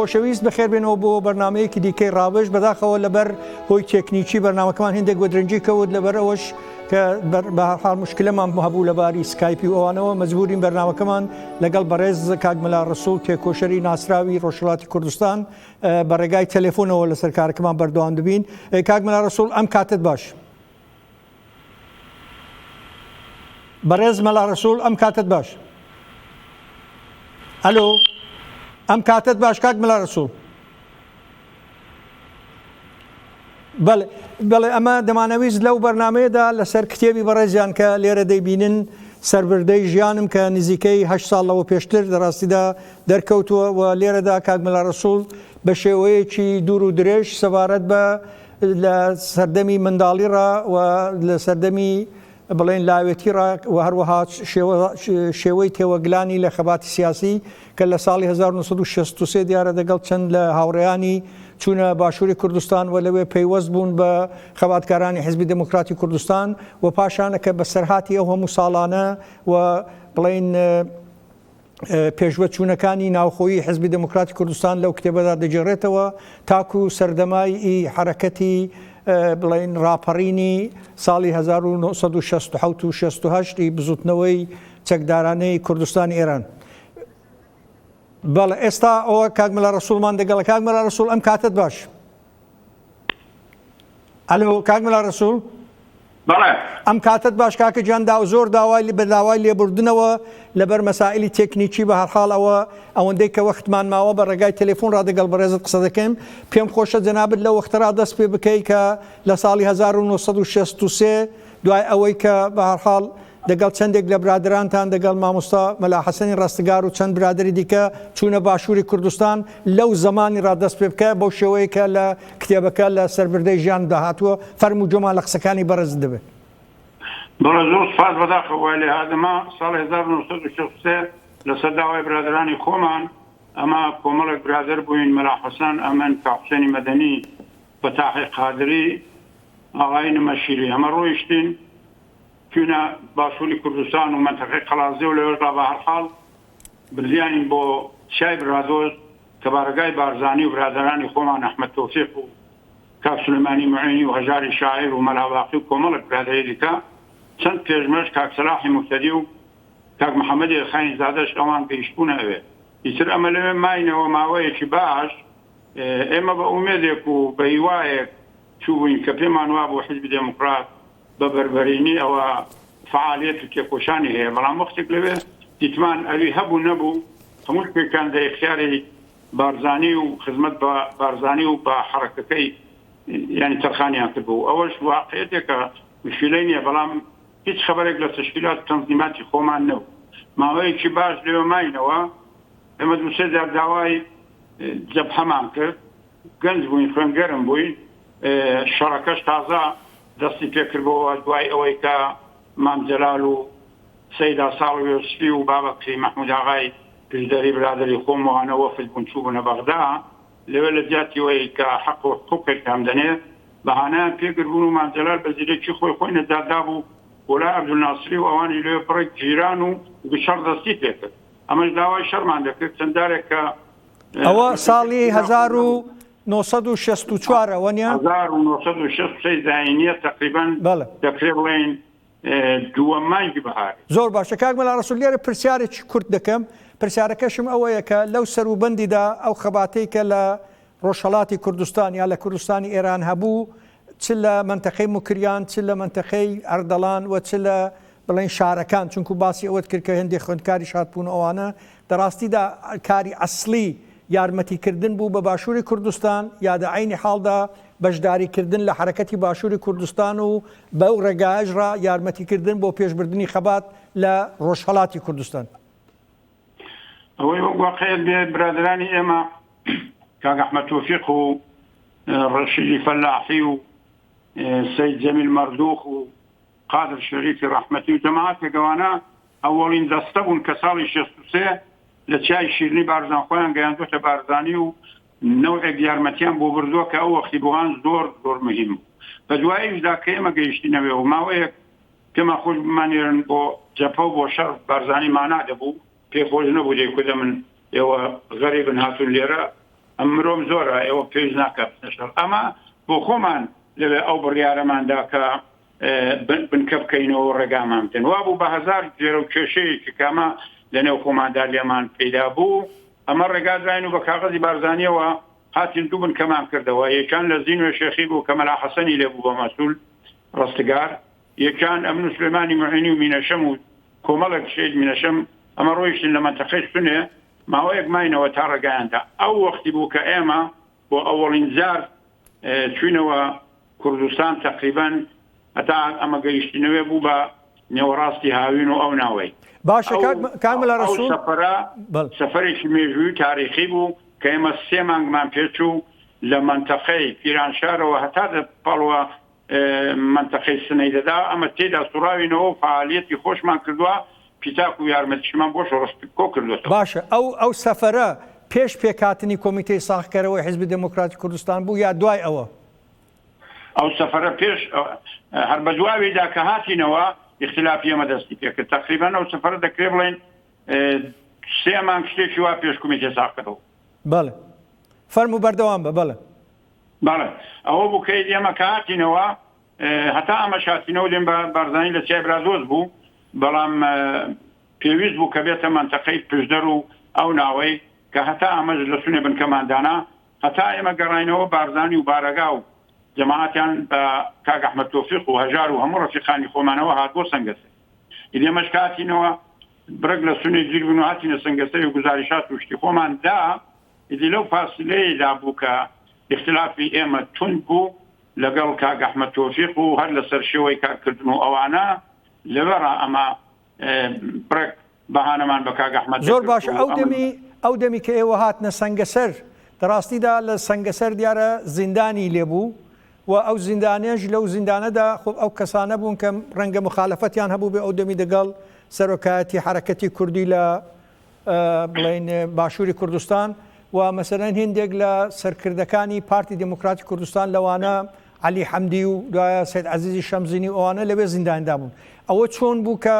خۆشەویست بەخێربێنەوە بۆ بەرنمەیەکی دیکەی ڕاوێژ بەداخەوە لەبەر هۆی تێکنیکی بەرنمەکەمان هندێک بۆ درنجی کەوت لەبەر ئەوەش کە بەحال مشکلەمان هەبوو لە باری سکایپی ئەوانەوە مەجبورین بەرنمەکەمان لەگەڵ بەڕێز کاکمەلا ڕسوڵ تێکۆشەری ناسراوی ڕۆژهڵاتی کوردستان بە ڕێگای تەلەفۆنەوە لەسەر کارەکەمان بەردەوام دەبین کاکمەلا ڕسوڵ ئەم کاتت باش. بەڕێز مەلا ڕەسوڵ ئەم کاتەت باش ئەلۆ ئەم کاتەت باش کاک مەلا ڕەسوڵ بەڵێ ئەمە دەمانەویست لەو بەرنمەیەدا لەسەر کتێبی بەڕێزیان کە لێرە دەیبینن سربردەی ژیانم کە نزیکەی هە ساڵەوە پێشتر لەڕاستیدا دەرکەوتووە و لێرەدا کاک مەلا ڕسوول بە شێوەیەکی دوور و درێژ سەبارەت بە لە سەردەمی منداڵیڕا و لە سەردەمی بڵێن لاوێتیڕا و هەروەها شێوەی تێوەگلانی لە خەباتی سیاسی کە لە ساڵی 1963 دیارە دەگەڵ چەند لە هاوڕێیانی چوونە باشووری کوردستان و لەوێ پەیوەست بوون بە خەباتکارانی حزبی دموکراتی کوردستان و پاشانەکە بەسەرهاتی ئەو هەموو ساڵانە و بڵێن پێشڤەچوونەکانی ناوخۆیی حیزبی دێموکراتی کوردستان لەو کتێبەدا دەگێڕێتەوە تاکو سەردەمای ئی حەرەکەتی بڵێن ڕاپەڕینی ساڵی 1960 و 68 ی بزوتنەوەی چەکدارانەی کوردستانی ئێران. بەڵێ ئێستا ئەوە کاک مەلا ڕەسوڵمان دەگەڵە کاک مەلا ڕەسوڵ ئەم کاتت باش. ئەلۆ کاک ملا ڕسول ئەم کاتت باش کاکە گیان دا زۆر داوای لە بەداوای لێبوردنەوە لەبەر مەسائلی تەکنیکی بە هەرحاڵ ئەوە ئەوەندەی کە وەختمان ماوە بە ڕێگای تەلفۆن ڕادەگەڵ بەڕێزت قسە دەکەین پێم خۆشە جەنابت لە وەخترا دەست پێ بکەی کە لە ساڵی 1963 دوای ئەوەی کە بە هەرحاڵ دەگەڵ چەندێک لە برادەرانتان دەگەڵ مامۆستا مەلا حەسەنی ڕەستگار و چەند برادەری دیکە چوونە باشووری کوردستان لەو زەمانی ڕا دەست پێ بکە بەو شێوەیەی کە لە کتێبەکە لە سەربردەی ژیانمدا هاتووە فەرموو گوێمان لە قسەکانی بەڕێزت دەبێ. بەڵێ زۆر سوپاس بەداخەوە وای لێ هات ئەمە ساڵی هەزار و نۆ سەد و شەست و سێ لەسەر داوای برادەرانی خۆمان ئەمە کۆمەڵێک برادەر بووین مەلا حەسەن ئەمن کاکوسێنی مەدەنی فەتاحی قادری ئاغای نمەشیری ئەمە ڕۆیشتین چووینە باشووری کوردستان و مەنتەقەی قەڵادزێ و لەوێشدا بە هەر حاڵ بردیانین بۆ چیای برادۆست کە بارەگای بارزانی و برادەرانی خۆمان ئەحمەد تۆفیق و کاک سولەیمانی موعێنی و هەژاری شاعیر و مەلا باقی و کۆمەڵێک برادەری دیکە چەند پێشمەش کاک سەلاحی موهتەدی و کاک محەمەدی ئێلخانی زادەش ئەوان گەیشتبوونە ئەوێ ئیتر ئەمە لەوێ ماینەوە ماوەیەکی باش ئێمە بە ئومێدێک و بە هیوایەک چووبووین کە پێمان وابوو حیزبی دێموکڕات بە بەربەرینی ئەوە فەعالیەت و تێکۆشانی هەیە، بەڵام وەختێک لەوێ دیتمان ئەوی هەبوو نەبوو، هەموو شتێکیان لە ئیختیاری بارزانی و خزمەت بە بارزانی و بە حەڕەکەکەی یانی تەرخانیان کردبوو، ئەوەش واقعیەتێکە مشیلەی نیە، بەڵام هیچ خەبەرێک لە تەشکیلات و تەنزیماتی خۆمان نەبوو، ماوەیەکی باش لەوێ ماینەوە، ئێمە دوو سێ جار داوای جەبهەمان کرد، گەنج بووین، خوێنگەرم بووین، شەڕەکەش تازە دەستی پێکردبووەوە، دوای ئەوەی کە مام جەلال و سەید ئاساڵ و یۆسفی و بابەکری مەحمووداغای پشدەری برادەری خۆم و هەنە وەفد بوون چووبوونە بەغدا، لەوێ لە جیاتی ئەوەی کە حەق و حقووقێک پێم دەنێ، بەهانایان پێگربوون و مام جەلال بە زیرەکی خۆی خۆی نەجات دابوو بۆ لای عەبدولناسری و ئەوانیش لەوێ بڕێک گیران و گچەڵ دەستی پێکرد. ئەمەش داوای شەڕمان دەکرد چەند جارێکە. ئەوە ساڵی هەزار و نۆ سەد و شەست و چوار ە وە نیە؟ هەزار و نۆ سەد و شەست و سێ زاینیە تەقریبەن بەڵێ. دەکرێ بڵێین دووەم مانگی بەهار. زۆر باشە کاک مەلا ڕەسوڵ لێرە پرسیارێکی کورت دەکەم پرسیارەکەشم ئەوەیە کە لەو سەروبەندیدا ئەو خەباتەی کە لە ڕۆژهەڵاتی کوردستان یا لە کوردستانی ئێران هەبوو چ لە مەنتەقەی موکریان، چ لە مەنتەقەی ئەردەڵان و چ لە بڵێین شارەکان، چونکوو باسی ئەوەت کرد کە هێندێ خوێندکاریش هاتبوون و ئەوانە، لە ڕاستیدا کاری ئەسڵی یارمەتی کردن بوو بە باشووری کوردستان، یا دە عەینی حاڵدا بەشداری کردن لە حەرەکەتی باشووری کوردستان و بەو ڕێگایەش ڕا یارمەتی کردن بۆ پێش بردنی خەبات لە ڕۆژهەڵاتی کوردستان. ئەوەی وەک واقعیت بێ برادرانی ئێمە کاک ئەحمەد تۆفیق و ڕەشیدی فەلاحی و سید جەمیل مەردوخ و قادر شەریفی ڕەحمەتی و جەماعەتێک گەوانە ئەوەڵین دەستە بوون کە ساڵی شێستوسێ لە چای شیرنی بارزان خۆیان گەیاندوتە بارزانی و نەوەک یارمەتیان بۆ بردووە کە ئەو وەختی بۆهان زۆر زۆر مهم بە دوایشدا کە ئێمە گەیشتینەوێ و ماوەیەک پێمان خۆش بمانێرن بۆ جەبهە و بۆ شەڕ بارزانی مانا دەبوو پێی خۆش نەبوو دەیکوت ئەمن ئێوە غەریبن هاتوون لێرە ئەم مرۆم زۆرە ئێوە پێویست ناکا بچنە شەڕ ئەمە بۆ خۆمان لەوێ ئەو بڕیارەمان دا کە بنکە بکەینەوە و ڕێگامان بدەن وابوو بە هەزار گوێرە و کێشەیەکی کامە لەنێو خۆماندا لێمان پەیدا بوو ئەمە ڕێگادراین و بە کاغەزی بارزانیەوە هاتین دوو بنکەمان کردەوە یەکان لە زینوێ شێخی بوو کە مەلا حەسەنی لێ بوو بە مەسول ڕستگار، یەکان، ئەمن و سلێمانی موعینی و مینەشەم و کۆمەڵێک شەید مینەشەم، ئەمە ڕۆیشتن لە مەنتەقەی سنێ، ماوەیەک ماینەوە تا ڕێگایان دا. ئەو وەختی بوو کە ئێمە بۆ ئەوەڵین جار چووینەوە کوردستان، تەقریبەن هەتا ئەمە گەیشتینەوێ بوو بە نێوەڕاستی هاوین و ئەو ناوەی. باشە کاک مەلا ڕەسوڵ. ئەو سەفەرە سەفەرێکی مێژووی و تاریخی بوو کە ئێمە سێ مانگمان پێ چوو لە مەنتەقەی پیرانشارەوە هەتا دەتپەڵوە مەنتەقەی سنەیدەدا، ئەمە تێیدا سوڕاوینەوە و فەعالییەتی خۆشمان کردووە، پیتاک و یارمەتیشمان بۆ شۆڕش کۆ کردۆتەوە. باشە ئەو ئەو سەفەرە پێش پێکهاتنی کۆمیتەی ساغکەرەوەی حیزبی دێمۆکراتی کوردستان بوو یا دوای ئەوە؟ ئەو سەفەرە پێش هەر بە دواویدا کە هاتینەوە ئیختیلافی ئێمە دەستی پێ کرد. تەقریبەن ئەو سەفەرە دەکرێ بڵێین سێ مانگ شتێکی وا پێش کومیتەی ساغکەرەوە بوو. بەڵێ. فەرموو بەردەوام بە. بەڵێ. بەڵێ ئەوە بوو کە ئێمە کە هاتینەوە هەتا ئەمەش هاتینەوە لێم بە بارزانی لە چای برادۆست بوو بەڵام پێویست بوو کە بێتە مەنتەقەی پشدەر و ئەو ناوەی کە هەتا ئەمەش لە سونێ بنکەماندانا هەتا ئێمە گەڕینەوە بارزانی و بارەگا و جەماعەتیان بە کاک ئەحمەد تۆفیق و هەژار و هەموو ڕەفیقانی خۆمانەوە هات بۆ سەنگەسێ ئیدی ئێمەش کە هاتینەوە برەک لە سونێ گیر بوون و هاتینە سەنگەسەر و گوزاریشات و شتی خۆمان دا ئیدی لەو فاسیلەیەیدا بوو کە ئیختلافی ئێمە توند بوو لەگەڵ کاک ئەحمەد تۆفیق و هەر لەسەر شێوەی کارکردن و ئەوانە، لەوێڕا ئەمە بڕێک بەهانەمان بە کاک ئەحمەد دەکرد و ئەمن. زۆر باشە، ئەو دەمی، ئەو دەمی کە ئێوە هاتنە سەنگەسەر، لە ڕاستیدا لە سەنگەسەر دیارە زیندانی لێ بوو و ئەو زیندانیش لەو زیندانەدا خۆ ئەو کەسانە بوون کە ڕەنگە موخالەفەتیان هەبووبێ ئەو دەمی دەگەڵ سەرۆکایەتی حەرەکەتی کوردی لە بڵێین باشووری کوردستان و مەسەلەن هندێک لە سەرکردەکانی پارتی دموکراتی کوردستان لەوانە علی حەمدی و دوایە سید عزیزی شەمزینی ئەوانە لەوێ زینداندا بوون ئەوە چۆن بوو کە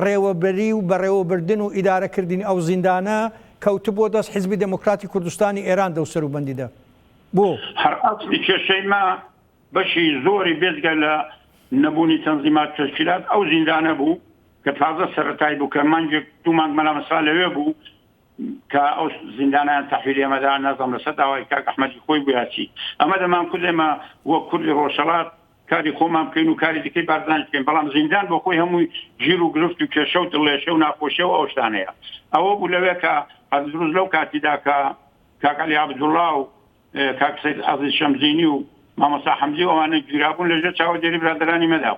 ڕێوەبەری و بەڕێوەبردن و ئیدارەکردنی ئەو زیندانە کەوت بۆ دەست حزبی دموکراتی کوردستانی ئێران دەوسەر و بەندیدە بۆ هەر ئەسلی کێشەی ما بەشی زۆری بێجگە لە نەبوونی تەنزیمات تەشکیلات ئەو زیندانە بوو کە تازە سەرەتای بوو کە مانگێک دوو مانگ مەلا مەسا لەوێ بوو کە ئەو زیندانیان تەحویلی ئێمەدا نازانم لەسەر داوای کاک ئەحمەدی خۆی بوو یا چی ئەمە دەمانکرد ئێمە وەک کوردی ڕۆژهەڵات کاری خۆمان بکەین و کاری دیکەی بارزانیش بکەین بەڵام زیندان بۆ خۆی هەمووی ژیر و گرفت و کێشە و دڵێشە و ناخۆشیە و ئەو شتانەیە ئەوە بوو لەوێ کە هەر دروست لەو کاتیدا کە کاک عەلی عەبدوڵڵا و کاک سەید عەزیز شەمزینی و مامۆستا حەمزی و ئەوانە گیرابوون لەژێر چاوەدێری برادەرانی مەدا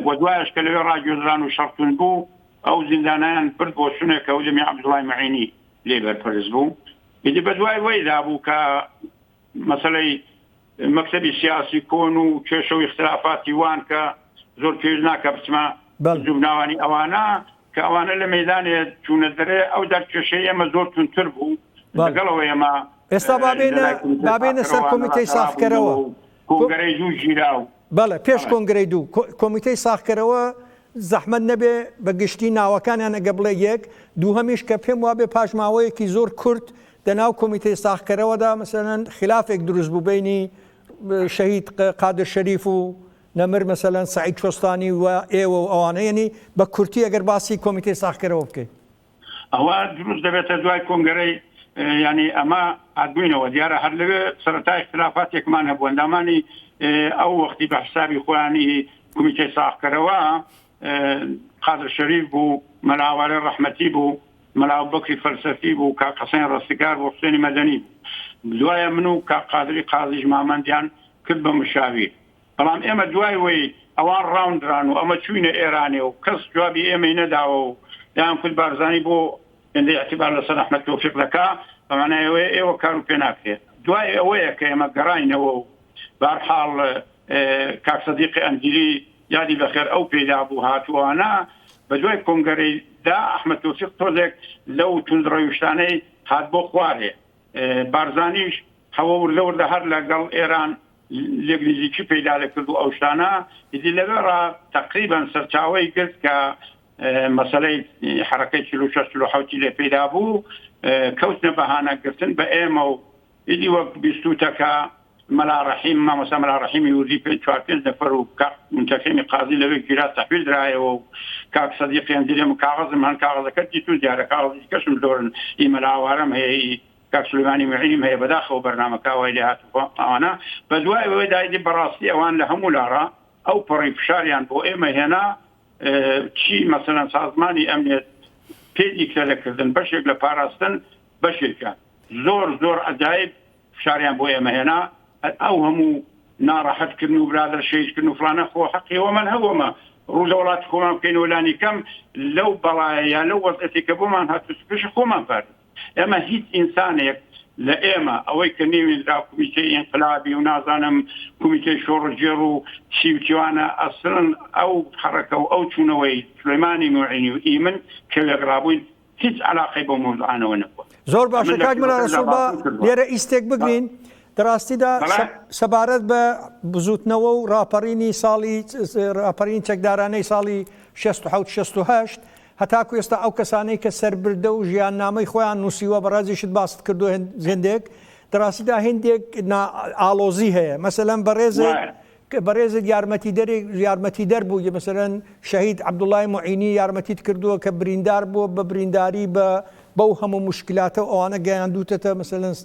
و دوایش کە لەوێ ڕاگوێزران و شەڕتون بوو ئەو زیندانیان برد بۆ شوونێکە و دەمی عەبدوڵای مەعینی لێ بەرپەرز بوو ئیدی بە دوای وەیدا بوو کە مەسەلەی مەکتەبی سیاسی کۆن و کێشە و اختلافاتی وان کە زۆر پێویست ناکە بچمە جوبناوانی ئەوانە کە ئەوانە لە مەیدانێ چوونە دەرێ ئەو دەر کێشەی ئێمە زۆر توندتر بوو لەگەڵ ئەوەی ئێمە ئێستا با بێینە با بێینە سەر کۆمیتەی ساخکەرەوە کۆنگرەی دوو ژیرا و بەڵێ پێش کۆنگرەی دوو کۆمیتەی ساخکەرەوە زەحمەت نەبێ بە گشتی ناوەکانیان ئەگە بڵێ یەک دووهەمیش کە پێم وابێ پاش ماوەیەکی زۆر کورت لە ناو کۆمیتەی ساخکەرەوەدا مەسەلەن خلافێک دروست بوو بینی شەهید قادر شەریف و نەمر مەسەلەن سەعید کۆستانی و ئێوە و ئەوانە یەنی بە کورتی ئەگەر باسی کۆمیتەی ساخکەرەوە بکەی. ئەوە دروست دەبێتە دوای کۆنگەرەی یانی ئەمە هاتبووینەوە دیارە هەر لەوێ سەرەتای اختلافاتێکمان هەبوو ئەندامانی ئەو وەختی بە حسابی خۆیانی کمیتەی ساخکەرەوە قادر شەریف بوو مەلاوارێ ڕەحمەتی بوو مەلا بەکری فەلسەفی بوو کاک حسێن ڕستگار بۆ حسێنی مەدەنی بوو دوایە من و کاک قادری قازیش مامەندیان کرد بە مشاویر بەڵام ئێمە دوای وەی ئەوان ڕاونران و ئەمە چووینە ئێرانێ و کەس جوابی ئێمەی نەداوە و دەیانکوت بارزانی بۆ هێندەی ئیعتیبار لەسەر ئەحمەد تۆفیق دەکا، بە مانای ئەوەیە ئێوە کار و پێ ناکرێت. دوای ئەوەیە کە ئێمە گەڕاینەوە و بە هەر حاڵ کاک سەدیقی ئەنجیری یادی بە خێر ئەو پێی دابوو هات و ئەوانە بە دوای کۆنگەرەی دا ئەحمەد تۆفیق تۆزێک لەو توندڕەوشتانەی هات بۆ خوارێ بارزانیش هەوە وردە وردە هەر لە گەڵ ئێران لێک نزیکی پەیدا دەکرد و ئەو شتانە ئیدی لەوێ ڕا تەقریبەن سەرچاوەی گرت کە مەسەلەی حەڕەکەی چل و شەش چل و حەوتی لێ پەیدا بوو کەوتنە بەهانە گرتن بە ئێمە و ئیدی وەک بیستوتە کە مەلا ڕەحیم مامۆستا مەلا ڕەحیمی وردی پێ چوار پێنج نەفەر و کاک منتەقیمی قازی لەوێ گیرا تەحویل درایەوە و کاک سەدیقیان دیرێم کاغەزم هەن کاغەزەکەت دیتوون دیارە کاغەزی دیکەشم زۆرن ئی مەلا ئاوارەم هەیە ئی کاک سولەیمانی موعینیم هەیە بەداخەوە بەرنامەکە وای لێ هات و ئەوانە بەدوای ئەوەیدا ئیدی بەڕاستی ئەوان لە هەموو لاڕا ئەو پەڕی فشاریان بۆ ئێمە هێنا چی مەسەلەن سازمانی ئەمنێت پێ دیکتەرە کردن بەشێک لە پاراستن بەشێکە زۆر زۆر عەجایب فشاریان بۆ ئێمە هێنا ئەو هەموو ناڕەحەت کردن و برادر شەهید کردن و فلانە خۆ حەقی وەمەن هەوەمە ڕوو لە وڵاتی خۆمان بکەین و لانی کەم لەو بەڵایە یا لەو وەزعەتی کە بۆمان هاتوو سوکەشی خۆمان پارێزین. ئێمە هیچ ئینسانێک لە ئێمە ئەوەی کە نێوێنرا کومیتەی ئینقلابی و نازانم کومیتەی شۆڕشگێڕ و چی و چیوانە ئەسڵەن ئەو حەڕەکە و ئەو چوونەوەی سولەیمانی موعینی و ئیمن کە وێکڕابووین هیچ عەلاقەی بەو مەوزوعانەوە نەبووە. زۆر باشە کاک مەلا ڕەسوڵ با لێرە ئیستێک بگرین لە ڕاستیدا سەبارەت بە بزووتنەوە و ڕاپەڕینی ساڵی ڕاپەڕین چەکدارانەی ساڵی شەست و حەوت شەست و هەشت هەتاکو ئێستا ئەو کەسانەی کە سەربردە و ژیاننامەی خۆیان نووسیوە بەڕێزیشت باست کردووە هێندێک لە ڕاستیدا هێندێک نا ئاڵۆزی هەیە مەسەلەن بەڕێزت وایە کە بەڕێزت یارمەتیدەرێک یارمەتیدەر بوو یە مەسەلەن شەهید عەبدوڵای معینی یارمەتیت کردووە کە بریندار بووە بە برینداری بە بەو هەموو مشکلاتە و ئەوانە گەیاندووتەتە مەسەلەن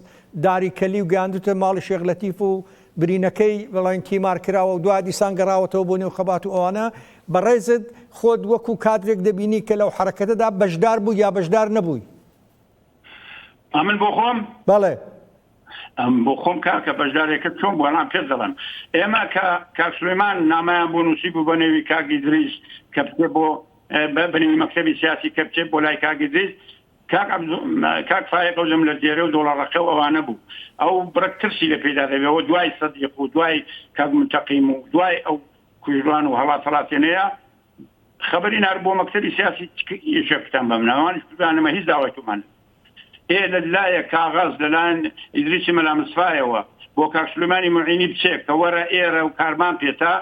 داری کەلی و گەیاندووتە ماڵی شێخ لەتیف و برینەکەی بەڵێن تیمار کراوە و دوا دیسان گەڕاوەتەوە بۆ نێو خەبات و ئەوانە، بەڕێزت خۆت وەکو کادرێک دەبینی کە لەو حەرەکەتەدا بەشدار بووی یا بەشدار نەبووی؟ ئەمن بۆ خۆم؟ بەڵێ. ئەم بۆ خۆم کاکە بەشدارێکت چۆن بووە نا پێت دەڵێم ئێمە کە کاک سلێمان نامەیان بۆ نووسی بوو بە نێوی کاک ئیدریس کە بچێ بۆ بە بنێوی مەکتەبی سیاسی کە بچێت بۆ لای کاک ئیدریس کاک عەبدو کاک فایەق ئەو لم لە دێرە و دۆڵەڕەقە و ئەوانە بوو ئەو بڕەک ترسی لە پێدا دەبێ وە دوای سەدیق و دوای کاک منتەقیم و دوای ئەو کوژران و هەڵات هەڵاتێنەیە خەبەری نارد بۆ مەکتەبی سیاسی چ ئیشێ کوتان بەم ناوە ئەوانیش کوژران ئەمە هیچ داوای تۆمان ئێ لە لایەک کاغەز لە لایەن ئیدریسی مەلا مسفایەوە بۆ کاک سولەیمانی موعینی بچێ کە وەرە ئێرە و کارمان پێتە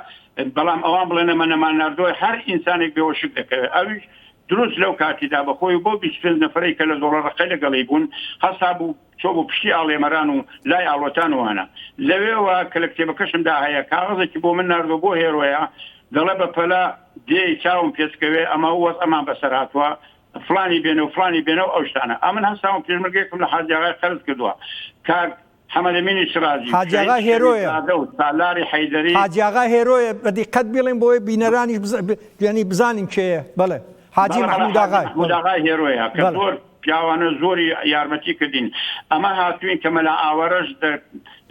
بەڵام ئەوان بڵێن ئەمە نەمان ناردووە هەر ئینسانێک بێوەشک دەکەوێ ئەویش دروست لەو کاتیدا بە خۆی و بەو بیست پێنج نەفەرەی کە لە زۆڵەڕقەی لە گەڵی بوون هەستا بوو چۆ بۆ پشتی ئاڵێمەران و لای ئاڵۆتان و هەنا لەوێوە کە لە کتێبەکەشم دا هەیە کاغەزێکی بۆ من نارد و بۆ هێرۆیە دەڵێ بە پەلە دێی چاوم پێچکەوێ ئەمە و وەزعمان بە سەر هاتووە فڵانی بێنە و فڵانی بێنە و ئەو شتانە ئەمن هەستاوم پێشمەرگەیەکم لە حاجیاغای قەرز کردووە کاک حەمەد ئەمینی شرازی، حاجی شەهید ئاغا شەریف هێرۆیە. زادە و سالاری حەیدەری. حاجی ئاغا هێرۆیە، بە دیقەت بیڵێن بۆی بینەرانیش بزا ب یانی بزانین کێیە، بەڵێ حاجی بەڵێ بەڵێ مەحمود حاجی ئاغای مەحمود بەڵێ ئاغای هێرۆیە کە بەڵێ. زۆر پیاوانە زۆری یارمەتی کردین ئەمە هاتووین کە مەلا ئاوارەش دە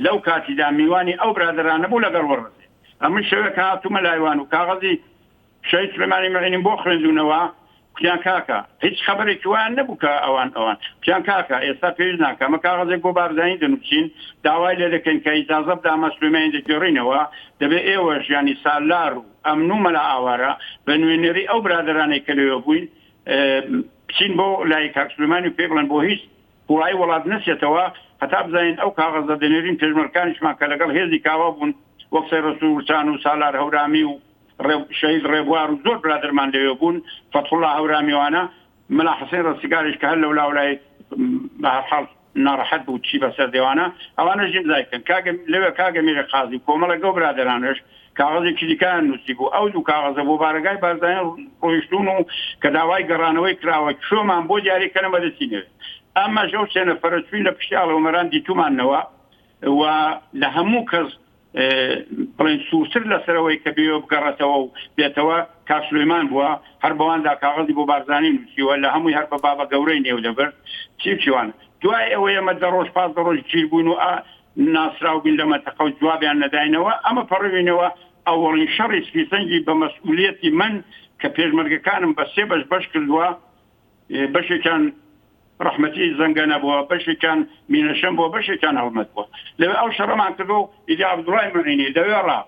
لەو کاتیدا میوانی ئەو برادەرانە بوو لەگەڵ وەڕەزێ ئەمن شەوێک هاتوومە لایوان و کاغەزی شەهید سلێمانی مەعینم بۆ خوێندونەوە کوتیان کاکە هیچ خەبەرێکی وایان نەبوو کە ئەوان ئەوان کوتیان کاکە ئێستا پێویست ناکە ئەمە کاغەزێک بۆ بارزانی دەنوسین داوای لێ دەکەین کە ئیجازە بدا ئەمە سلێمانی دەگێڕینەوە دەبێ ئێوەش یانی سالار و ئەمن و مەلا ئاوارە بە نوێنێری ئەو برادەرانەی کە لەوێ بووین بچین بۆ لای کاک سلێمانی و پێی بڵێن بۆ هیچ قوڵایی وڵات نەچێتەوە هەتا بزانین ئەو کاغەزە دەنێرین پێشمەرگەکانیشمان کە لەگەڵ هێزی کاوە بوون وەک سەی ڕەسوڵ ورچان و سالار هەورامی و شەهید ڕێبوار و زۆر برادەرمان لەوێ بوون، فەتحوڵا هەورامیوانە، مەلا حسەین ڕەستیگاریش کە هەر لەولاولای بە هەر حاڵ ناڕەحەت بوو چی بە سەر دێوانە، ئەوانەش ئیمزای کرد. کاک لەوێ کاک ئەمیری قازی و کۆمەڵێک ئەو برادەرانەش کاغەزێکی دیکەیان نووسیبوو. ئەو دوو کاغەزە بۆ بارەگای بارزانی ڕۆیشتوون و کە داوای گەڕانەوەی کراوە کێومان بۆ دیاری کەنە مەدەسی نەوێ. ئەمەش ئەو سێ نەفەرە چووین لە پشتی ئاڵۆمەران دیتووماننەوە و لە هەموو کەس بڵێن سوورتر لەسەرەوەی کە بێوێ بگەڕێتەوە و بێتەوە کاک سولەیمان بووە هەر بەواندا کاغەزی بۆ بارزانی نووسیوە لە هەمووی هەر بە بابە گەورەی نێو دەبر چی و چیوان دوای ئەوە ئێمە دە ڕۆژ پاس دە ڕۆژ گیر بووین و ناسراو بووین لە مەنتەقە و جوابیان نەداینەوە ئەمە پەڕوینەوە ئەوەڵین شەڕی سپی سەنگی بە مەسئولیەتی من کە پێشمەرگەکانم بە سێ بەش بەش کردووە بەشێکیان ڕەحمەتی زەنگە نەبووە بەشێکیان مینەشەم بووە بەشێکیان هەڵمەت بووە لەوێ ئەو شەڕەمان کردوە و ئیدی عەبدوڵای موعینی لەوێڕا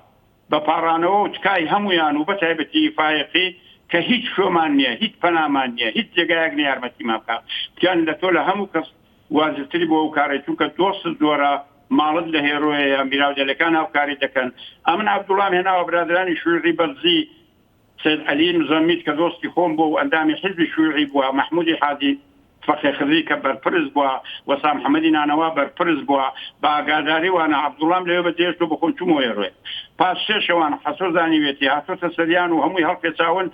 بە پاڕانەوە و تکای هەموویان و بەتایبەتی فایەقی کە هیچ شومان نیە هیچ پەنامان نیە هیچ جێگایەک نیە یارمەتیمان بکا گیان لە تۆ لە هەموو کەس واجبتری بۆ ئەو کارەی چونکە دۆستت زۆرە ماڵت لە هێرۆیەیە میراودەلەکان هاوکاریت دەکەن ئەمن عەبدوڵام هێناوە برادەرانی شویعی بەرزی سەید عەلی مزەمید کە دۆستی خۆم بووە و ئەندامی حیزبی شویعی بووە، مەحموودی حاجی فەخێ خدری کە بەرپرس بووە، وەسام حەمەدی نانەوا بەرپرس بووە، بە ئاگاداری وانە عەبدوڵڵام لەوێ بە جێهێشت و بە خۆم چوومەوە ئێروێ. پاش سێ شەوان حەسۆ زانیویەتی هاتۆتە سەریان و هەمووی هەڵپێچاون،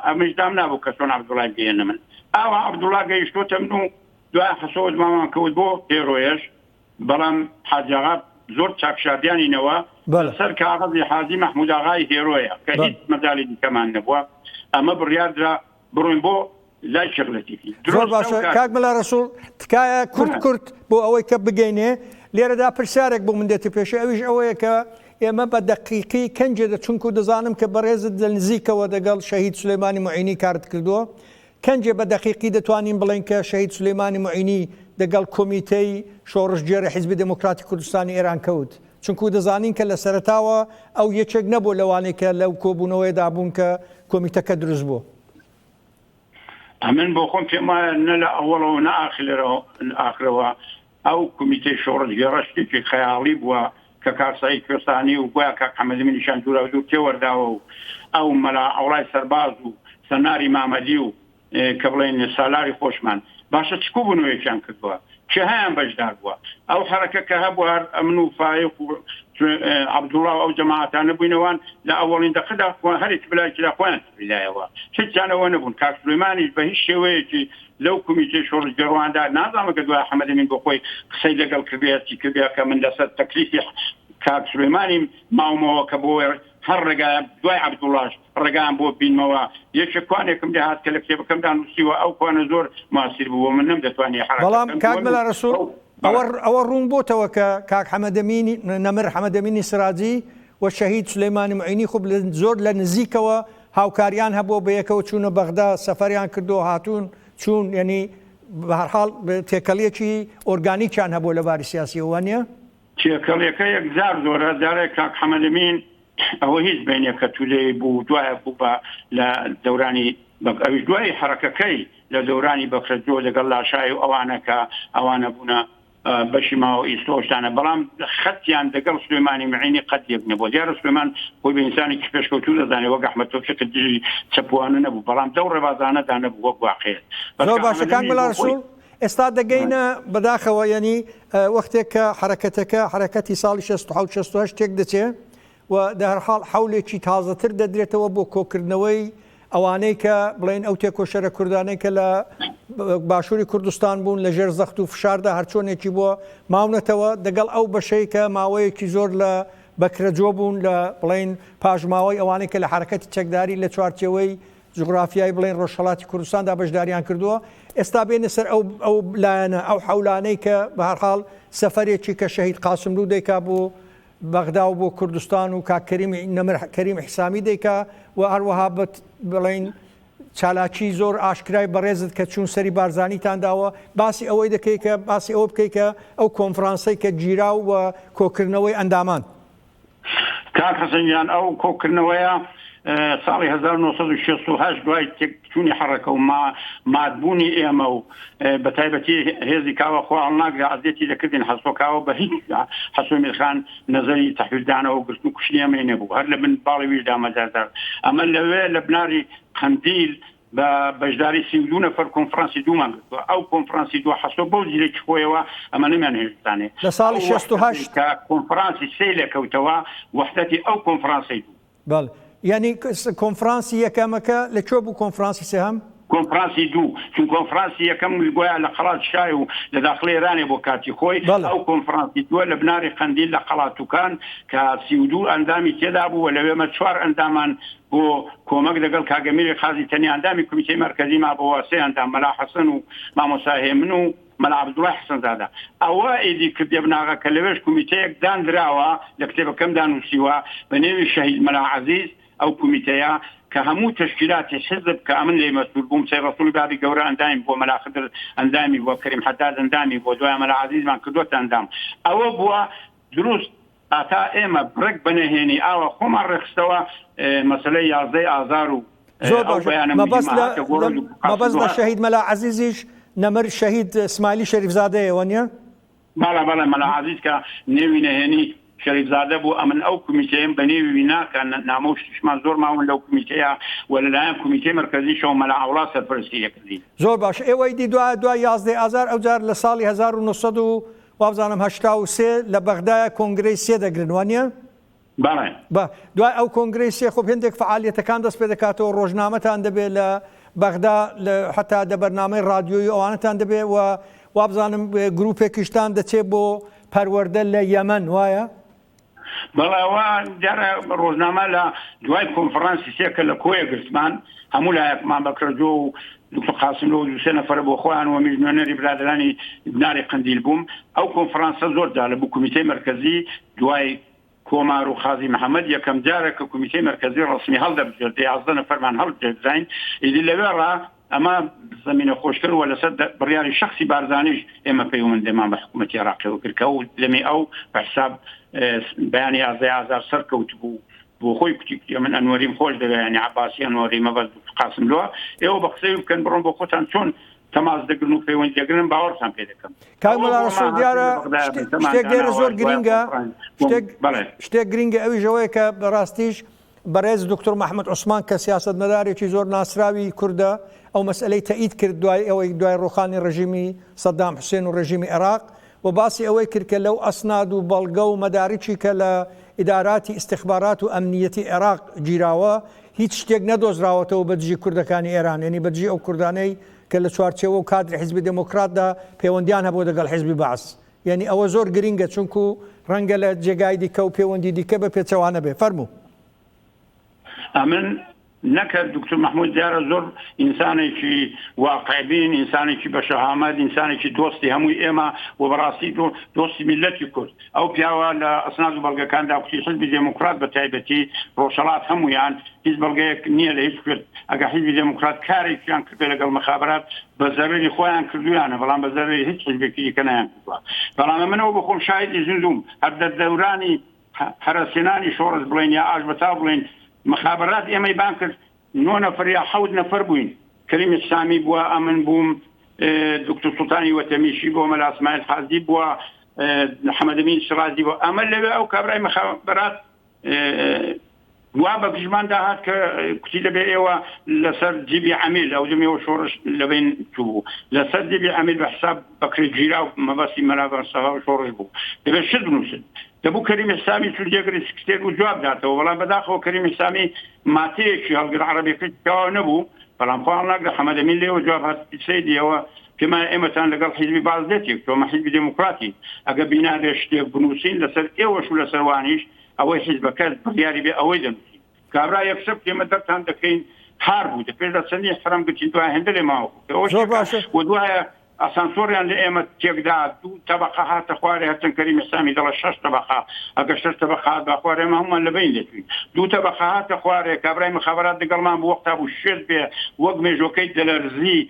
ئەمنیش دام نابوو کە چۆن عەبدوڵڵای بگەیێنمن. ئاوا عەبدوڵڵا گەیشتۆتەمن و دوای حەسۆوە دمامان کەوت بۆ ئێروێش. بەڵام حاجی ئاغا زۆر چاک شاردیانی نەوە بەلە. سەر کاغەزی حاجی مەحمود ئاغای هێرۆیە کە هیچ بەلە. مەجالی دیکەمان نەبووە ئەمە بڕیار درا بڕۆین بۆ لای شێخ لەتیفی زۆر درۆست باشە ئەو کات. کاک مەلا رەسوڵ تکایە کورت کورت بۆ ئەوەی کە بگەینێ لێرەدا پرسیارێک بۆ من دێتە پێشێ ئەویش ئەوەیە کە ئێمە بە دەقیقی کەنجێ دە چونکوو دەزانم کە بەڕێزت لە نزیکەوە دەگەڵ شەهید سولەیمانی موعینی کارت کردووە کەنجێ بە دەقیقی دەتوانین بڵێین کە شەهید سولەیمانی موعینی دەگەڵ کۆمیتەی شۆڕشگێڕی حیزبی دێمۆکڕاتی کوردستانی ئێران کەوت، چونکوو دەزانین کە لە سەرەتاوە ئەو یەکێک نەبووە لەوانەی کە لەو کۆبوونەوەیەدا بوون کە کۆمیتەکە دروست بوو. ئەمن بۆ خۆم پێم وایە نە لە ئەوەڵەوە و نە ئاخلرەوە ئاخرەوە ئەو کومیتەی شۆڕشگێڕە شتێکی خەیاڵی بووە کە کاک سەعید کوێستانی و گویا کاک حەمەدەمین نیشان دوورا دوور تێوەرداوە و ئەو مەلا عەوڵای سەرباز و سەناری مامەدی و کە بڵێین سالاری خۆشمان باشە چ کوبونەوەیەکیان کردووە؟ کێهایان بەشدار بووە؟ ئەو حەرەکە کە هەبوو هەر ئەمن و فایق و عەبدوڵا و ئەو جەماعەتانە بووینە وان لە ئەوەڵین دەقەدا خۆیان هەرێکی بەلایەکیدا خۆیان سپیدایەوە هیچیان ئەوە نەبوون کاک سولەیمانیش بە هیچ شێوەیەکی لەو کومیتەی شۆڕشگێڕواندا نازانم ئەگەر دوای حەمەد ئەمین بۆ خۆی قسەی لەگەڵ کردبێ یا چی کردبێ کە من لەسەر تەکلیفی کاک سولەیمانیم ماومەوە کە بۆ هەر ڕێگایە دوای عەبدوڵاش ڕێگایان بۆ بینمەوە یەکێ کوانێکم لێ هات کە لە کتێبەکەمدا نووسیوە ئەو کوانە زۆر مواسیر بوو بۆ من نەمدەتوانی حەرەکەت بەڵام بکەم کاک دووەم مەلا ڕەسووڵ ئەو ئەوە بەڵێ. ئەوە ڕوون بۆتەوە کە کاک حەمەد ئەمین نەمر حەمەد ئەمینی سراجی و شەهید سولەیمانی موعینی خوب لە زۆر لە نزیکەوە هاوکاریان هەبووە بەیەکەوە چوونە بەغدا سەفەریان کردووە هاتوون چوون یەنی بەهەرحاڵ تێکەڵیەکی ئۆرگانیکیان هەبووە لە باری سیاسیەوە وانیە؟ تێکەڵیەکە یەکجار زۆرە جارێک کاک حەمەد ئەمین ئەوە هیچ بەینێ کە تو لێی بوو دوایە بوو بە لە دەورانی بەگ ئەویش دوای حەرەکەکەی لە دەورانی بەکرەجۆ لەگەڵ لاشای و ئەوانە کە ئەوانە بوونە بەشی ماوە ئیستۆ شتانە بەڵام خەتیان دەگەڵ سلێمانی معینی قەت یەک نەبوو دیارە سلێمان خۆی بە ئینسانێکی پێشکەوتوو دەزانێت وەک ئەحمەد تۆفیق دژی چەپوانە نەبوو بەڵام دەو ڕێبازانەدا نەبوو وەک واقعێت زۆر باشە کاک مەلا ڕەسوڵ ئێستا دەگەینە بەداخەوە یەنی وەختێک کە حەرەکەتەکە حەرەکەتی ساڵی 67 68 تێک دەچێ وە دەهەرحاڵ حەولێکی تازەتر دەدرێتەوە بۆ کۆکردنەوەی ئەوانەی کە بڵێن ئەو تێکۆشەرە کوردانەی کە لە باشووری کوردستان بوون لە ژێر زەخت و فشاردا هەرچۆنێکی بووە ماونەتەوە دەگەڵ ئەو بەشەی کە ماوەیەکی زۆر لە بەکرەجۆ بوون لە بڵین پاشماوەی ئەوانەی کە لە حرکەتی چەکداری لە چوارچەوەی جغرافیای بڵێن ڕۆژهڵاتی کوردستاندا بەشداریان کردووە ئێستا بێنە سەر ئەو ئەو لایەنە ئەو حولانەی کە بەهرحاڵ سەفرێکی کە شەهید قاسملو دەیکا بوو بەغدا و بۆ کوردستان و کاک کەریمی نەمر کەریم حسامی دەیکا و هەروەها بت بڵێین چالاکی زۆر ئاشکرای بەڕێزت کە چوون سەری بارزانیتان داوە باسی ئەوەی دەکەی کە باسی ئەوە بکەی کە ئەو کۆنفرانسەی کە گیرا و کۆکردنەوەی ئەندامان کاک حەسەن گیان ئەو کۆکردنەوەیە ساڵی 1968 دوای تێکچوونی حەڕەکە و مادبوونی ئێمە و بە تایبەتی هێزی کاوە خۆ هەڵناگرە ئەزیەتی دەکردین حەسۆ کاوە بە هیچ حەسۆ میرخان نەزەری تەحویلدانەوە گرتن و کوشتنی ئەمەی نەبوو هەر لە من باڵی ویش دامەزاردار ئەمە لەوێ لە بناری قەندیل بە بەشداری سی دو نەفەر کۆنفرانسی دوومان گرتووە ئەو کۆنفرانسی دو حەسۆ بەو زیرەکی خۆیەوە ئەمە نەمیان هێشتانێ لە ساڵی 68 کۆنفرانسی سێ لەکەوتەوە وەحدەتی ئەو کۆنفرانسی دوو بەڵێ یانی کۆنفرانسی یەکەمەکە لە کوێ بوو کۆنفرانسی سێهەم؟ کۆنفرانسی دوو چون کۆنفرانسی یەکەم گوایە لە قەڵات شای و لە داخڵی ئێرانێ بۆ کاتی خۆی ئەو کۆنفرانسی دووە لە بناری قەندیل لە قەڵاتوکان کە سی و دوو ئەندامی تێدا بوو و لەوێ مە چوار ئەندامان بۆ کۆمەک دەگەڵ کاک ئەمیری قازی تەنیا ئەندامی کومیتەی مەرکەزی مابۆوە سێ ئەندام مەلا حەسەن و مامۆستا هێمن و مەلا عەبدوڵای حەسەنزادە ئەوە ئیدی کردیە بناغە کە لەوێش کومیتەیەک داندراوە لە کتێبەکەمدا نووسیوە بە نێوی شەهید مەلا عەزیز ئەو کومیتەیە کە هەموو تەشکیلاتی حیزب کە ئەمن لێی مەسوول بووم سەید ڕەسووڵی بابی گەورە ئەندامی بووە مەلا خدر ئەندامی بووە کەریم حەداد ئەندامی بووە دوایە مەلا عەزیزمان کردووەتە ئەندام ئەوە بووە دروست هەتا ئێمە ڕێک بە نەهێنی ئاوە خۆمان ڕێکخستەوە مەسەلەی یازدە ی ئازار و زۆر باش مەبەست لە مەبەست لە شەهید مەلا عەزیزیش نەمر شەهید سمایلی شەریف زادەیە وە نیە؟ بەڵێ بەڵێ مەلا عەزیز کە نێوی نەهێنی شەریف زادە بوو ئەمن ئەو کومیتەیەم بە نێوی وی ناکا نامە و شتیشمان زۆر ماون لەو کومیتەیە وە لە لایەن کومیتەی مەرکەزیشەوە مەلا عەوڵا سەرپەرستی ئەکردین. زۆر باش ئێوەی دی دوا دوای یازدە ی ئازار ئەوجار لە ساڵی هەزار و نۆ سەد و وابزانم هەشتا و سێ لە بەغدایە کۆنگرەی سێ دەگرن وانیە؟ بەڵێ. بە دوای ئەو کۆنگرەی سێ خۆ هێندێک فعالیەتەکان دەست پێدەکاتەوە ڕۆژنامەتان دەبێت لە بەغدا حتا دە بەرنامەی ڕادیۆی ئەوانتان دەبێت و وابزانم گروپێکیشتان دەچێت بۆ پەروەەردە لە یەمەەن وایە؟ بەڵێ ئەوە دیارە ڕۆژنامە لە دوای کۆنفرانسی سێ کە لە کۆیە گرتمان هەموو لایەکمان بەکرەجۆ و دکتۆر قاسم لەو دووسێ نەفرە بۆ خۆیان و میش نوێنەری برادرانی ناری قندیل بووم ئەو کۆنفرانسە زۆر جا لە بوو کمیتەی مرکزی دوای کۆمار و خازی محەممەد یەکەم جارە کە کمیتەی مرکزی ڕسمی هەڵدەبژێت یازدە نەفەرمان هەڵبژێدراین ئیدی لەوێڕا ئەمە زەمینە خۆشکەر و لەسەر بڕیاری شەخسی بارزانیش ئێمە پەیوەندێمان بە حکوومەتی عراقیەوە کرد کە و لەمێ ئەو بەحساب بەیانی ئازای ئازار سەر کەوت بوو بۆ خۆی کوتی من ئەنوەریم خۆش دەوێنی عباسی ئەنوەری مەبەز قاسم لوە ئێوە بە قسەی بکەن بڕۆن بۆ خۆتان چۆن تەماز دەگرن و پەیوەند دەگرن باوەڕتان پێ دەکەم کامەڵسۆ دیارە شتێک لێرە زۆر گرنگە شتێک گرنگە ئەوی ژەوەیە کە بەڕاستیش بەڕێز دوکتور مەحمود عوسمان کە سیاسەتمەدارێکی زۆر ناسراوی کوردە ئەو مەسئەلەی تەئید کرد دوای ئەوەی دوای ڕووخانی ڕژیمی سەدام حوسێن و ڕژیمی عێراق و باسی ئەوەی کرد کە لەو ئەسناد و بەڵگە و مەدارکی کە لە ئیداراتی ئیستخبارات و ئەمنیەتی عێراق گیراوە هیچ شتێک نەدۆزراوەتەوە بە دژی کوردەکانی ئێران یەنی بە دژی ئەو کوردانەی کە لە چوارچێوە و کادری حیزبی دێمۆکڕاتدا پێوەندیان هەبووە دەگەڵ حیزبی بەعس یانی ئەوە زۆر گرینگە چونکو ڕەنگە لە جێگای دیکە و پێوەندی دیکە بە پێچەوانە بێ فەرموو. ئەمن نەکرد دکتور محمود دیارە زۆر ئینسانێکی واقعبین ئینسانێکی بە شەهامەت ئینسانێکی دۆستی هەمووی ئێمە و بەڕاستی دۆ دۆستی میلەتی کورد ئەو پیاوە لە ئەسناد و بەڵگەکاندا کوتی حزبی دێموکرات بە تایبەتی ڕۆژهەڵات هەمویان هیچ بەڵگەیەک نییە لە هیچ کورد ئەگە حیزبی دێموکڕات کارێکیان کردێ لەگەڵ مەخابرات بە زەرەری خۆیان کردویانە بەڵام بە زەرەری هیچ حیزبێکی دیکە نەیان کردوە بەڵام ئەمنەوە بە خۆم شایدی زیندووم هەر دە دەورانی هەرەسێنانی شۆڕش بڵێن یا ئاش بەتاو بڵێن مەخابرات ئێمەی بان کرد نۆ نەفر یا حەوت نەفر بووین کەریم ئیحسامی بووە ئەمن بووم دکتور سوڵتانی وەتەمیشی بۆ مەلا اسماعیل حازی بووە حەمەدەمین شڕازی بۆ ئەمە لەوێ ئەو کابرای مەخابرات وا بە پژمان دا هات کە کوتی دەبێ ئێوە لەسەر جیبی عەمیل ئەو دەمێەوە شۆڕش لەبین چوو لەسەر جیبی عەمیل بە حساب بەکرێ گیرا و مەبەستی مەلابەر سەها و شۆڕش بوو دەبێت شت بنووسن دەبوو کەریم حسامی چون جێگری سکرتێر و جواب داتەوە بەڵام بەداخەوە کەریم حسامی ماتەیەکی هەڵگر عربێکەوە نەبوو بەڵام پاڵ ناگرە حەمەدەمین لێەوە جواب هەست سیدیەوە پێمانە ئێمەتان لەگەڵ حیزبی بەعس لەتێک تۆمە حیزبی دێموکڕاتین ئەگەر بینابێ شتێک بنووسین لەسەر ئێوەش و لەسەر وانیش ئەوەی حیزبەکەت بڕیاری بێ ئەوەی دەنووسین کابرا یەکشەب تێمە دەرتان دەکەین هار بوو دە پێش لە چەندی حرەم گرتین دوای هێندە لێ ماوە ئەوەش زۆر باشە و دوایە ئاسانسۆڕیان لە ئێمە تێکدا دوو تەبقە هاتە خوارێ هەرچەند کەریمی سامی دەڵە شەش تەبقە ئەگە شەش تەبقە هات با خوارێ ئێمە هەموومان لە بەین دەچووین دوو تەبقە هاتە خوارێ کابرای مخابرات لەگەڵمان بوو وەختا بوو شێت بێ وەک مێژۆکەی دەلەرزی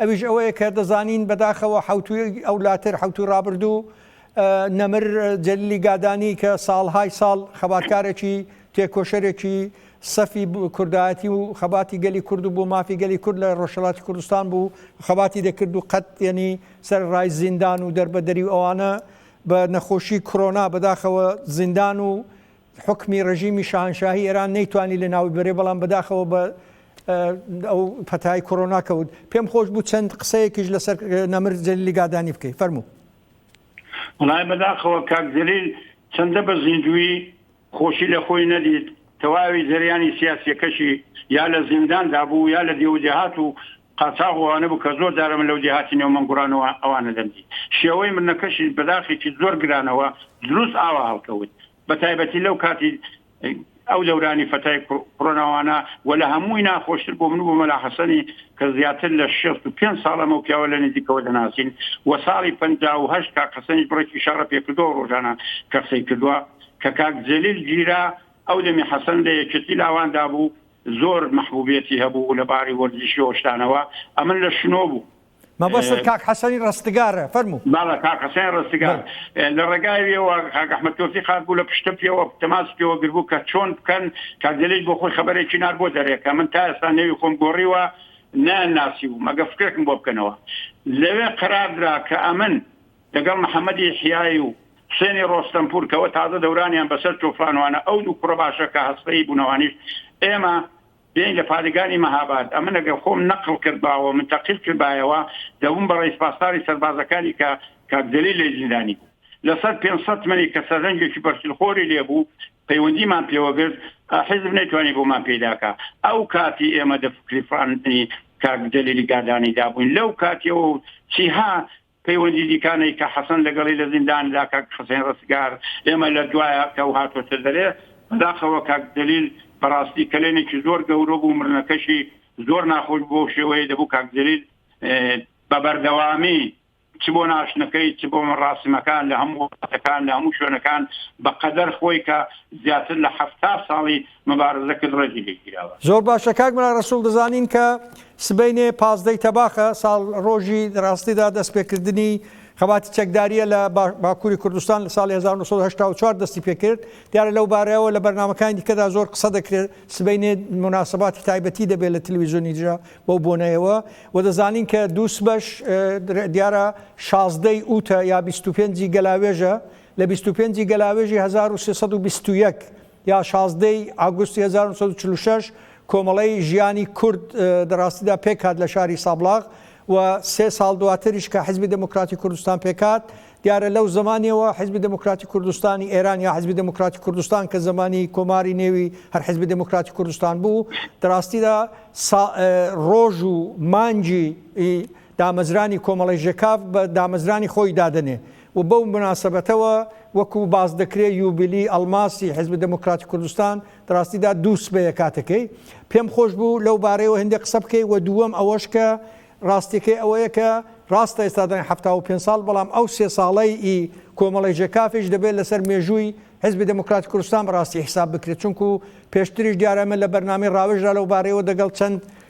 ئەویش ئەوەیە کە دەزانین بەداخەوە حەوتووی ئەولاتر حەوتووی ڕابردوو نەمر جەلیلی گادانی کە ساڵهای ساڵ خەباتکارێکی تێکۆشەرێکی سەفی کوردایەتی و خەباتی گەلی کورد و بۆ مافی گەلی کورد لە ڕۆژهڵاتی کوردستان بوو خەباتی دەکرد و قەت یەنی سەر ڕای زیندان و دەربەدەری و ئەوانە بە نەخۆشی کرۆنا بەداخەوە زیندان و حوکمی ڕژیمی شاهەنشاهی ئێران نەیتوانی لە ناوی بەرێ بەڵام بەداخەوە بە ئەو پەتای کۆرۆنا کەوت پێم خۆش بوو چەند قسەیەکیش لەسەر نەمر جەلیلی گادانی بکەی فەرموو وڵای بەداخەوە کاک جەلیل چەندە بە زیندوی خۆشی لە خۆی نەدیت تەواوی جەریانی سیاسیەکەشی یا لە زینداندا بوو یا لە دێوجهات و قاچاغ و ئەوانە بوو کە زۆر جارە من لەو دێهاتی نێو مەنگوڕانەوە ئەوانە دەمدی. شێوەی مردنەکەشیش بە داخێکی زۆر گرانەوە دروست ئاوا هەڵکەوت. بە تایبەتی لەو کاتی ئەو دەورانی فەتای کڕۆناوانە و لە هەمووی ناخۆشتر بۆ من و بۆ مەلا حەسەنی کە زیاتر لە شێست و پێنج ساڵ ئەمەو پیاوە لە نزیکەوە دەناسین و ساڵی پەنجا و هەشت کاک حەسەنیش بڕێکی شەڕە پێ کردووە و ڕۆژانە کە قسەی کردووە کە کاک جەلیل گیرا ئەو دەمی حەسەن لە یەکێتی لاواندا بوو زۆر مەحبوبیەتی هەبوو لە باری وەرزشی و شتانەوە ئەمن لە شنۆ بوو. مەبەستت کاک حەسەنی ڕەستگارە؟ فەرموو. بەڵێ کاک حەسەنی ڕەستگار بەڵێ. لە ڕێگایەوە کاک ئەحمەد تۆفیق هاتبوو لە پشتم پێوە تەماسی پێوە گربوو کە چۆن بکەن کاک جەلیل بۆ خۆی خەبەرێکی نارد بۆ دەرێ کە من تا ئێستا نێوی خۆم گۆڕیوە نایان ناسیبووم ئەگەر فکرێکم بۆ بکەنەوە لەوێ قەرار درا کە ئەمن لەگەڵ محەمەدی یەحیای و حوسێنی ڕۆستەمپوور کەوە تازە دەورانیان بەسەر تۆفانوانە ئەو دوو کوڕە باشە کە هەستەیی بوونەوانیش ئێمە بێین لە پادگانی مەهاباد ئەمن ئەگەر خۆم نەقڵ کردباوە منتەقیل کردبایەوە دەبووم بە ڕەیس پاسداری سەربازەکانی کە کاک جەلیل لێی زیندانی بوو لەسەر پێنج سەد منی کە سەرنجێکی بەرسیلخۆری لێ بوو پەیوەندیمان پێوە گرت حیزب نەیتوانی بۆمان پێدا کا ئەو کاتی ئێمە دە فکری فراندنی کاک جەلیلی گادانی دابووین لەو کاتیەوە چیها پەیوەندی دیکانەی کە حەسەن لەگەڵی لە زینداندا کاک حسین ڕستگار ئێمە لە دوایە کە و هاتۆتە دەرێ بەداخەوە کاک جەلیل بەڕاستی کەلێنێکی زۆر گەورە بوو مردنەکەشی زۆر ناخۆش بوو بەو شێوەیەی دەبوو کاک جەلیل بە بەردەوامی چ بۆ ناشتنەکەی چ بۆ مەڕاسیمەکان لە هەموو وڵاتەکان لە هەموو شوێنەکان بە قەدەر خۆی کە زیاتر لە حەفتا ساڵی مبارزەکرد ڕێزی لێ گیراوە. زۆر باشە کاک ملا رسول دەزانین کە سبەینێ پازدەی تەباخە ساڵ ڕۆژی ڕاستیدا دەست پێکردنی خەباتی چەکداریە لە باکووری کوردستان لە ساڵی 1984 دەستی پێکرد دیارە لەو بارەیەوە لە بەرنمەکانی دیکەدا زۆر قسە دەکرێت سبەینێ مناسباتی تایبەتی دەبێت لە تلویزیۆنی دژە بەو بۆنەیەوە و دەزانین کە دووس بەش دیارە شازدەی ئوتە یا 25 گەلاوێژە لە 25 گەلاوێژی 1920 یا شازدە ی ئاگوستی هەزار و نۆ سەد و چل و شەش کۆمەڵەی ژیانی کورد لە ڕاستیدا پێکهات لە شاری سابڵاغ و سێ ساڵ دواتریش کە حیزبی دێمۆکڕاتی کوردستان پێکهات، دیارە لەو زەمانیەوە حیزبی دێمۆکڕاتی کوردستانی ئێران یا حیزبی دێمۆکڕاتی کوردستان کە زەمانی کۆماری نێوی هەر حیزبی دێمۆکڕاتی کوردستان بوو دە ڕاستیدا سا ڕۆژ و مانگی ی دامەزرانی کۆمەڵەی ژێکاف بە دامەزرانی خۆی دادەنێ. و بەو موناسەبەتەوە وەکو باس دەکرێ یوبیلی ئەڵماسی حیزبی دێمۆکڕاتی کوردستان دڕاستیدا دوو سبەیە کاتەکەی پێم خۆش بوو لەو بارەیەوە هێندێ قسە بکەی و دووەم ئەوەش کە ڕاستیەکەی ئەوەیە کە ڕاستە ئێستا دەڵێن حەفتا و پێنج ساڵ بەڵام ئەو سێ ساڵەی ئی کۆمەڵەی ژێکافیش دەبێت لەسەر مێژووی حیزبی دێمۆکڕاتی کوردستان بەڕاستی حیساب بکرێت چونکو پێشتریش دیارە ئێمە لە بەرنامەی ڕاوێژرا لەو بارەیەوە دەگەڵ چەند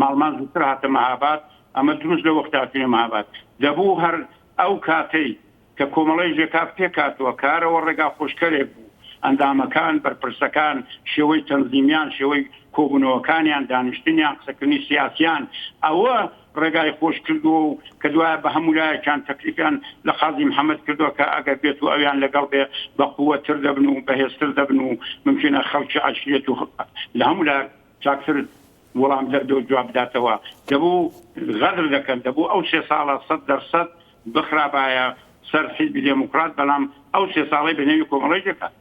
ماڵمان زووتر هاتە مەهاباد، ئەمە دروست لە وەختاچوونی مەهاباد دەبوو، هەر ئەو کاتەی کە کۆمەڵەی ژێکاف پێکهاتووە کارەوە ڕێگا خۆشکەرێک بوو، ئەندامەکان، بەرپرسەکان، شێوەی تەنزیمیان، شێوەی کۆبوونەوەکانیان، دانیشتنیان، قسەکردنی سیاسییان ئەوە ڕێگای خۆش کردووە و کە دوایە بە هەموو لایەکیان تەکلیفیان لە قازی محەمەد کردووە کە ئەگەر بێت و ئەویان لەگەڵ بێ بە قووەتتر دەبن و بەهێزتر دەبن و مومکینە خەڵکی عەشیرەت و لە هەموو لایەک چاکتر وەڵام دەردە و جواب بداتەوە. دەبوو غەدر دەکەن، دەبوو ئەو سێ ساڵە سەد دەر سەد بخرابایە سەر حیزبی دێموکڕات، بەڵام ئەو سێ ساڵەی بە نێوی کۆمەڵەی دەکات.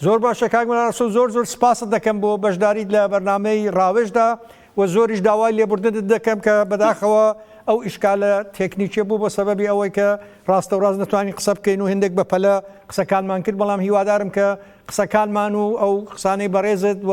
زۆر باشە کاک مەلا ڕەسوڵ زۆر زۆر سپاست دەکەم بۆ بەشداریت لە بەرنامەی ڕاوێژدا و زۆریش داوای لێبوردنت دەکەم کە بەداخەوە ئەو ئیشکالە تێکنیکیە بوو بە سەبەبی ئەوەی کە ڕاستە و ڕاست نەتوانین قسە بکەین و هێندێک بە پەلە قسەکانمان کرد بەڵام هیوادارم کە قسەکانمان و ئەو قسانەی بەڕێزت و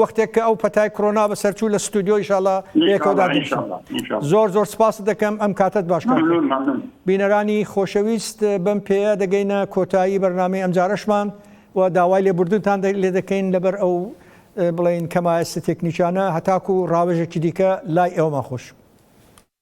وەختێک کە ئەو پەتای کڕۆنا بەسەر چوو لە ستۆدیۆ ئیشاڵا بەیەکەوە دادەنیشین زۆر زۆر سپاست دەکەم ئەم کاتەت باش کات بینەرانی خۆشەویست بەم پێیە دەگەینە کۆتایی بەرنامەی ئەمجارەشمان و داوای لێبوردنتان لێ دەکەین لەبەر ئەو بڵێن کەمایەسە تێکنیکانە هەتاکو ڕاوێژێکی دیکە لای ئێوەمان خۆش.